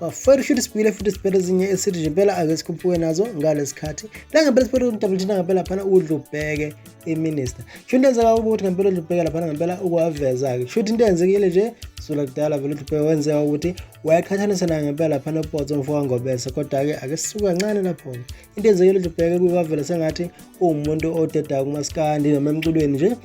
bafowethu ushuthi sibuyile futhi sibhele ezinye esithi nje impela ake sikhuphuke nazo ngalesikhathi langempela sibhele udabula thina ngempela phana udla ubheke iminister shuthi into enzeka ukuthi ngempela udla ubheke laphana ngempela ukwaveza-ke shuthi into eyenzekile nje sula kudala vele udla ubheke wenzeka ukuthi wayaqhathanisa nayo ngempela phana upotso mfo wangobese kodwa-ke ake sisuke kancane lapho-ke into eyenzekile udla ubheke kuyikwavela sengathi uwumuntu odedako kumasikandi noma emculweni nje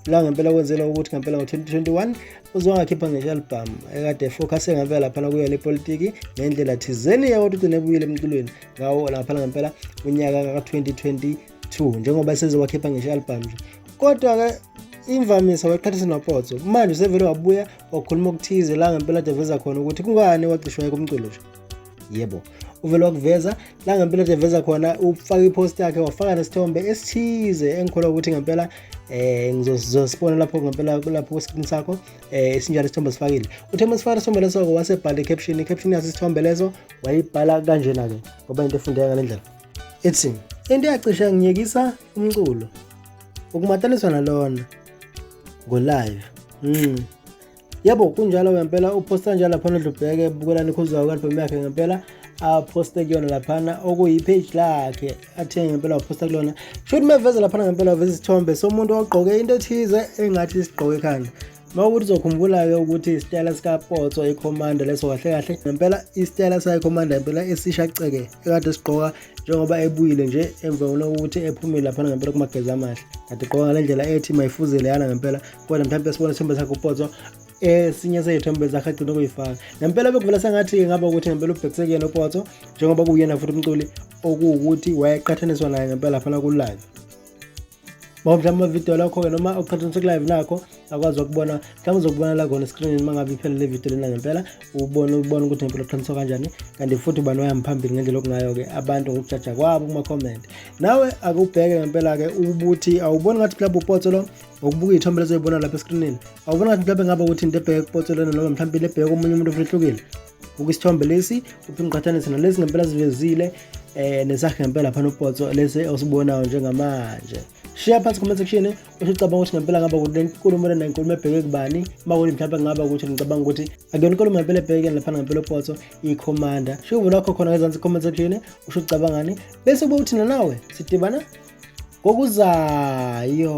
la ngempela kwenzela ukuthi ngempela ngo-2021 uzongakhipha ngisho album ekade focus ngempela laphana kuyo le politiki ngendlela thizeni yawodwa ukuthi nebuyile emculweni ngawo laphana ngempela unyaka ka-2022 njengoba sezowakhipha ngisho album nje kodwa-ke imvamisa wayiqhathisa nopotso manje usevele wabuya wakhuluma okuthize la ngempela deveza khona ukuthi kungani wagcishwa kumculo nje yebo uvele wakuveza la ngempela nje veza khona ufaka ipost yakhe wafaka nesithombe esithize engikholwa ukuthi ngempela eh ngizosibona lapho ngempela kulapho screen sakho eh isinjalo isithombe sifakile uthe uma sifaka isithombe leso ke wasebhala i-caption i-caption yaso isithombe leso wayibhala kanjena ke ngoba into efundeka ngale ndlela ethi into eyacisha ngiyekisa umculo ukumataniswa nalona ngo-live mm. yebo kunjalo ngempela uphosta njalo laphana udlubheke bukela nikhuzayo ku-albhamu yakhe ngempela aphoste kuyona laphana okuyipage lakhe athenge ngempela waphosta kulona shuthi meveze laphana ngempela waveza isithombe somuntu ogqoke into ethize engathi isigqoke ekhanda uma ukuthi uzokhumbula-ke ukuthi isitayela sikapotso ikhomanda leso kahle kahle ngempela isitayela sayikhomanda ngempela esisha ceke ekade sigqoka njengoba ebuyile nje emva kokuthi ephumile laphana ngempela kumagezi amahle kade gqoka ngale ndlela ethi mayifuzele yana ngempela kodwa mhlawumbe sibone isithombe sakhe upotso esinye seyithombe zakhe agcina ukuyifaka nempela bekuvela sengathi ngaba ukuthi ngempela ubhekise kuyena upotso njengoba kuyena futhi umculi okuwukuthi wayeqhathaniswa naye ngempela phana kulive mawumhlawumbe amavidiyo lakho-ke noma uqhathanise kulive nakho akwazi ukubona mhlawumbe uzokubona la khona eskrinini uma ngabe iphele le vidiyo lena ngempela ubone ubone ukuthi ngempela uqhaniswa kanjani kanti futhi ubani wayami phambili ngendlela okungayo-ke abantu ngokujaja kwabo kuma-comment nawe akubheke ngempela-ke ukuthi awuboni ngathi mhlawumbe upotso lo ngokubuka iy'thombe lezoyibona lapha eskrinini awubona ngathi mhlawumbe ngaba ukuthi into ebheke kupotshelene noma mhlawumbe into ebheke komunye umuntu ofuna ehlukile buka isithombe lesi uphinde uqhathanise nalezi ngempela zivezile um nesakhe ngempela phana upotso lesi osibonayo njengamanje shiya phansi comment section usho ucabanga ukuthi ngempela ngaba ukuthi le nkulumo lena inkulumo ebheke kubani uma kuthi mhlawumbe ngaba ukuthi ngicabanga ukuthi akuyona inkulumo ngempela ebheke laphana ngempela upotso ikhomanda shiya uvula wakho khona ngezansi comment section usho ucabangani bese kuba uthina nawe sidibana kokuzayo